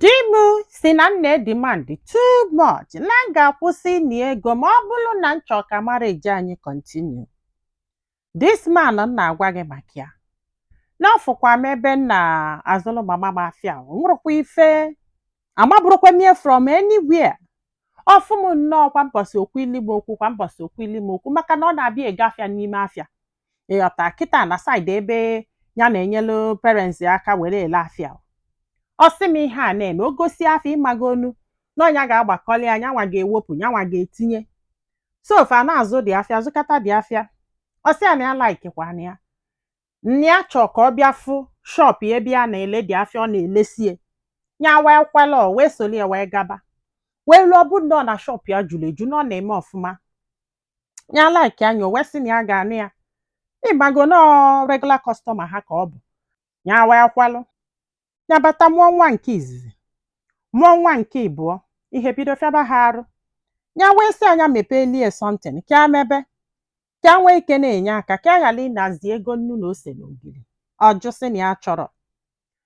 Di m si na m na-edemand too much na m ga-akwụsị ịna ego ma ọ bụrụ na m chọọ ka marriage anyị continue. This man m na-agwa gị maka ya na ọ fụkwa m ebe m na-azụrụ mama m afịa o nwerekwa ife amaburọkwa m ya from anywhere. Ọ fụ m nnọọ kwa mbọsị okwu ili m okwu kwa mbọsị okwu ili m okwu maka na ọ na-abịa ego afịa n'ime afịa. ịghọta kịta na side ebe ya na-enyelu parents ya aka were ele afịa ọ sị m ihe a na-eme o gosịa afịa ịmagonu na ọ nya ga-agbakọli ya nyanwa ga-ewepụ nyanwa ga-etinye so fa na-azụ dị afịa zụkata dị afịa ọ sị ya na ya laikikwana ya na ya chọọ ka ọ bịa fụ shop ya ebe ya na-ele dị afịa ọ na-elesie ya wee kwela wee soli ya wee gaba wee ruo ọ bụ nnọọ na shop ya juru eju na ọ na-eme ọfụma ya likea nya o wee sị na ya ga-anụ ya ịmago na ọ regular customer ha ka ọ bụ ya wee kwelụ ya bata mụọ nwa nke izizi mụọ nwa nke ịbụọ ihe bido fịaba ha arụ ya wee sị a nya mepeeli e something ka ya mebe ka ya nwee ike na-enye aka ka ya ghara ịnazi ego nnu na ose na ogiri ọ jụ sị na ya achọrọ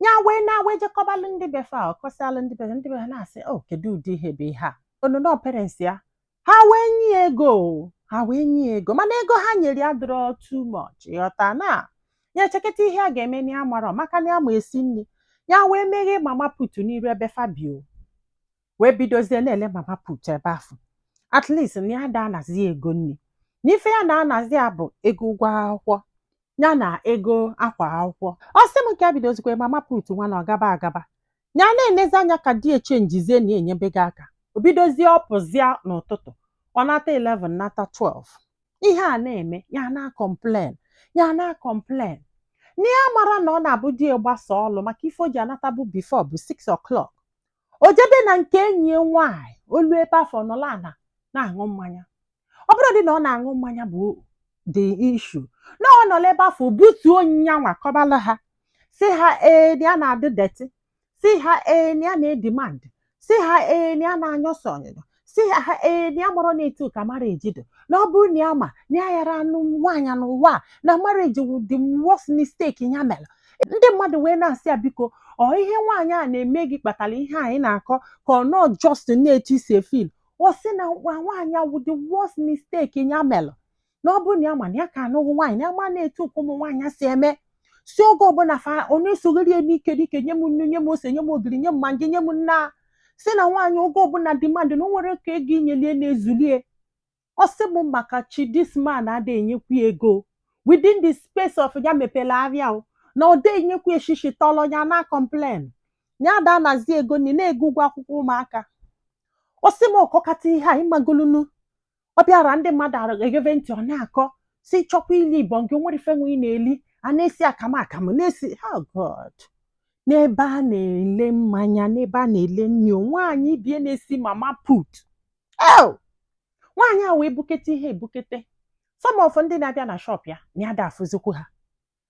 ya wee naa wee je kọbalụ ndị be fa ọ kọsalụ ndị be fa ndị be fa na-asị o kedu ụdị ihe bụ ihe a onono parents ya ha wee nye ya ego o, ha wee nye ya ego mana ego ha nyere ya adịrọ too much ịghọta na ya echeketa ihe a ga-eme na ya amarọ maka na ya ma esi nri ya wee meghe mama put n'iru ebe fa bi o wee bidozie na-ele mama put ebe afụ at least na ya ada anazi ego nri na ife ya na-anazi ya bụ ego ụgwọ akwụkwọ ya na ego akwa akwụkwọ ọ sị m ka ya bidozikwa mama put nwa na ọ gaba agaba ya na-enezi anya ka di ya chenjizie na enyebe gị aka o bidozie ọ pụzịa n'ụtụtụ ọ nata 11 nata 12 ihe a na-eme ya na-acomplain ya na-acomplain na ya mara na ọ na-abụ di ya gbasa ọlụ maka ife o ji anatabu before bụ 6 o'clock o jebe na nke enyi ya nwaanyị o luo ebe afụ nọla ana na-aṅụ mmanya ọ bụrọdị na ọ na-aṅụ mmanya bụ the issue na ọ nọla ebe afụ butuo nyanwa kọbala ha sị ha ee na ya na-adị dirty sị ha ee na ya na-edemand sị ha ee na ya na-anyụsọ ọnyụnyụ sị ha ha ee na ya amarọ na etu a ka marriage dị na ọ bụrụ na ya ma na ya ayara anụ nwaanyị n'ụwa a, na marriage wụ the worst mistake ya mere ndị mmadụ wee na-asị ya biko ọ ihe nwaanyị a na-eme gị kpatara ihe anyị na-akọ ka ọ nọ just na etu i si efeel ọ sị na nwa nwaanyị a wụ the worst mistake ya mere na ọ bụrụ na ya ma na ya ka anụghị nwaanyị na ya ma na etu ka ụmụ nwaanyị si eme si oge ọbụla fa ọ na-esogheri ya n'ike n'ike nye m nnu nye m ose nye m ogiri nye m Maggi nye m nna sị na nwaanyị oge ọbụla demand na o nwerọ ka ego i nyelie na-ezulie ọ sị m maka chi this man ada enyekwu ya ego within the space of ya mepere ahịa o na ọ da enyekwu ya shishi tọlọ ya na complain ya ada anazi ego nri na ego ụgwọ akwụkwọ ụmụaka ọ sị m ọkọkata ihe a ịmagolunu ọ bịara ndị mmadụ egeve ntị ọ na-akọ sị ị chọkwa ili ibọn gị nwere ife nwe ị na-eli a na-esi akamụ akamụ na-esi oh god n'ebe a na-ele mmanya n'ebe a na-ele nri o, nwaanyị bie na-esi mama put o nwaanyị a wee bukete ihe ebukete some of ndị na-abịa na shop ya na ya da afụzikwu ha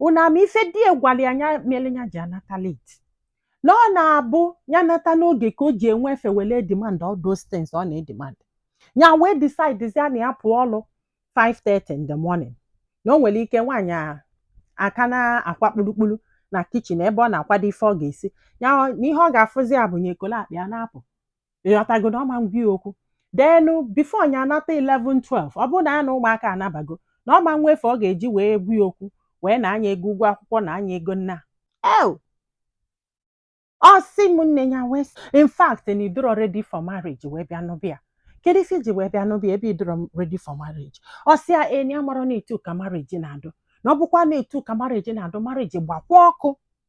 unu ama ife di ya gwara ya nya mere ya ji anata late na ọ na-abụ ya nata n'oge ka o ji enwe efe were demand all those things ọ na-edemand ya wee decidezia na ya pụọ ọlụ 5:30 in the morning na o nwere ike nwaanyị a aka na-akwa kpurukpuru na kitchen ebe ọ na-akwado ife ọ ga-esi ya na ihe ọ ga-afụzia bụ nya ekolo akpa ya na-apụ ịghọtago na ọ ma ngwa ya okwu then before nya anata 11 12 ọ bụrụ na ya na ụmụaka anabago na ọ ma nwe efe ọ ga-eji wee gwa ya okwu wee naa nya ego ụgwọ akwụkwọ naa nya ego nna ew ọ sị m nne ya wee sị, in fact na ị dọrọ ready for marriage wee bịa nụba ya kedu ife i ji wee bịa nụba ya ebe ị dọrọ ready for marriage ọ sị ya na ya amarọ na etu ka marriage na-adụ na ọ bụkwa na etu ka marriage na-adụ marriage gbakwa ọkụ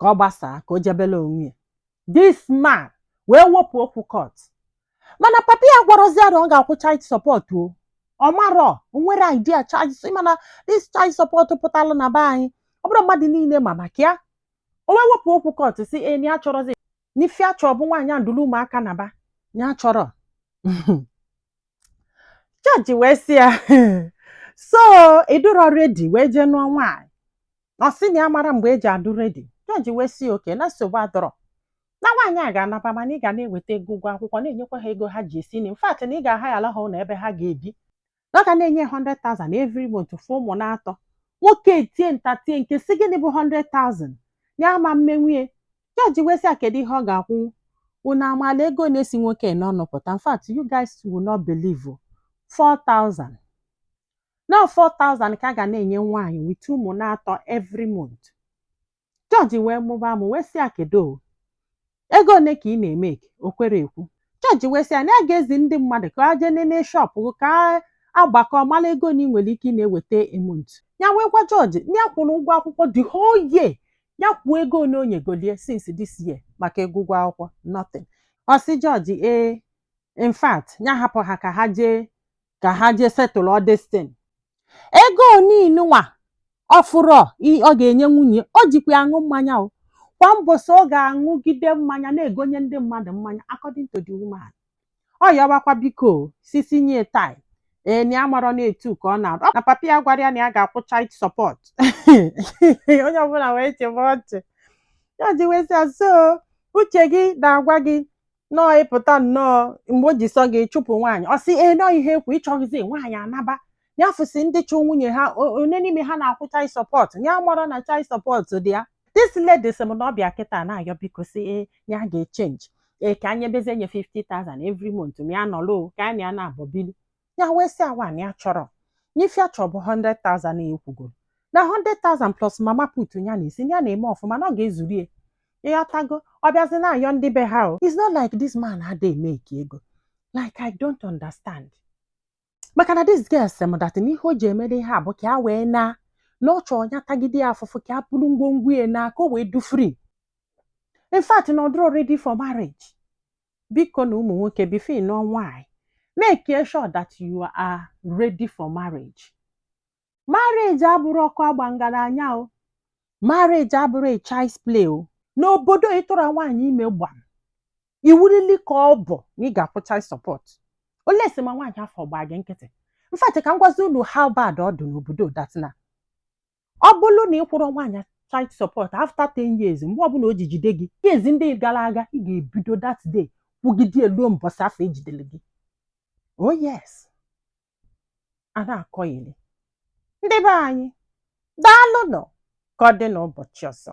ka ọ gbasaa ka o jebela onwe ya this man wee wepụ okwu court mana papa ya gwarazi ya na ọ ga-akwụ child support o ọ marọ o nwerọ idea child support mana this child support pụtara na be anyị ọ bụrụ mmadụ niile ma maka ya o wee wepụ okwu court sị na ya achọrọzi na ife ya chọ bụ nwaanyị a duru ụmụaka naba ya achọrọ jọji wee sị ya so ị dụrọ ready wee jee nụọ nwaanyị na ọ sị na ya amarọ mgbe e ji adụ ready jọji wee sị okay na nsogbu adọrọ na nwaanyị a ga-anaba mana ị ga na-eweta ego ụgwọ akwụkwọ na-enyekwa ha ego ha ji esi nri in fact na ị ga-ahayala ha ụlọ ebe ha ga-ebi na ọ ga na-enye 100,000 every month for ụmụ na-atọ nwoke etie nta tie nke sị gịnị bụ 100,000 ya ama mmenwu ya jọji wee sị ya kedu ihe ọ ga-akwụ unu amaala ego na-esi nwoke n'ọnụ pụta in fact you guys will not believe 4,000 na 4000 ka a ga na-enye nwaanyị with ụmụ na-atọ every month jọji wee mụba amụ wee sị ya kedu ego ole ka ị na-emake o kwerọ ekwu jọji wee sị ya na ya ga-ezi ndị mmadụ ka ha jee nene shop gị ka ha gbakọọ mara ego na ị nwere ike ị na-eweta a month ya wee gwa jọji na ya kwụrụ ụgwọ akwụkwọ the whole year ya kwuo ego ole o nyegolie since this year maka ego ụgwọ akwụkwọ nothing ọ sị jọji ee in fact ya hapụ ha ka ha jee ka ha jee settle all this thing ego niine nwa ọ fụrụ ọ ga-enye nwunye o jikwa aṅụ mmanya o kwa mbọsị ọ ga-aṅụgide mmanya na-egonye ndị mmadụ mmanya according to the woman ọ yọbakwa biko sisi nye tai ee na ya amarọ na etu ka ọ na-arụ na papa ya agwarọ ya na ya ga-akwụ child support onye ọbụla wee chịbe ọchị ya ji wee sị so uche gị na-agwa gị nnọọ ị pụta nnọọ mgbe o ji sọ gị chụpụ nwaanyị ọ sị ee nọọ ihe ekwu ị chọghịzi nwaanyị ya naba ya fụsị ndị chụ nwunye ha o- onye n'ime ha na-akwụ child support ya amarọ na child support dị ya this lady sị m na ọ bịa kịta na-ayọ biko sị ee ya ga-echenji ee ka ya nyebezie nye 50,000 every month ma ya nọlụ ka ya na ya naabọ bili ya wee sị ya waa na ya achọrọ na ife ya chọ bụ 100,000 na e kwugoro na 100,000 plus mama put ya na-esi na-eme ọfụma na ọ ga-ezuru ya ya ị ghọtago ọ bịazi na-ayọ ndị be ha o it's not like this man adịghị emake ego like i don't understand maka na this girl sị m that na ihe o ji emede ihe a bụ ka ya wee naa na ọ chọọ ya tagide ya afụfụ ka ya buru ngwongwo ya naa ka o wee dị free in fact na ọ dịrọ ready for marriage biko nụ ụmụ nwoke before ị nụọ nwaanyị make sure that you are ready for marriage marriage abụrọ ọkụ agba ngaranya o marriage abụrọ a child's play o n'obodo ị tụrụ nwaanyị ime gbam iwu rịlị ka ọ bụ na ị ga-akwụ child support unless ma nwaanyị afọ gbaa gị nkịtị in fact ka m gwazi unu how bad ọ dị n'obodo that na ọ bụrụ na ị kwụrọ nwaanyị child support after 10 years mgbe ọbụla o ji jide gị kezi ndị gara aga ị ga-ebido that day kwụgide eluo mbọsị afọ e jidere gị oh yes a na-akọgheri ndị be anyị daalụ nụ ka ọ dị n'ụbọchị ọzọ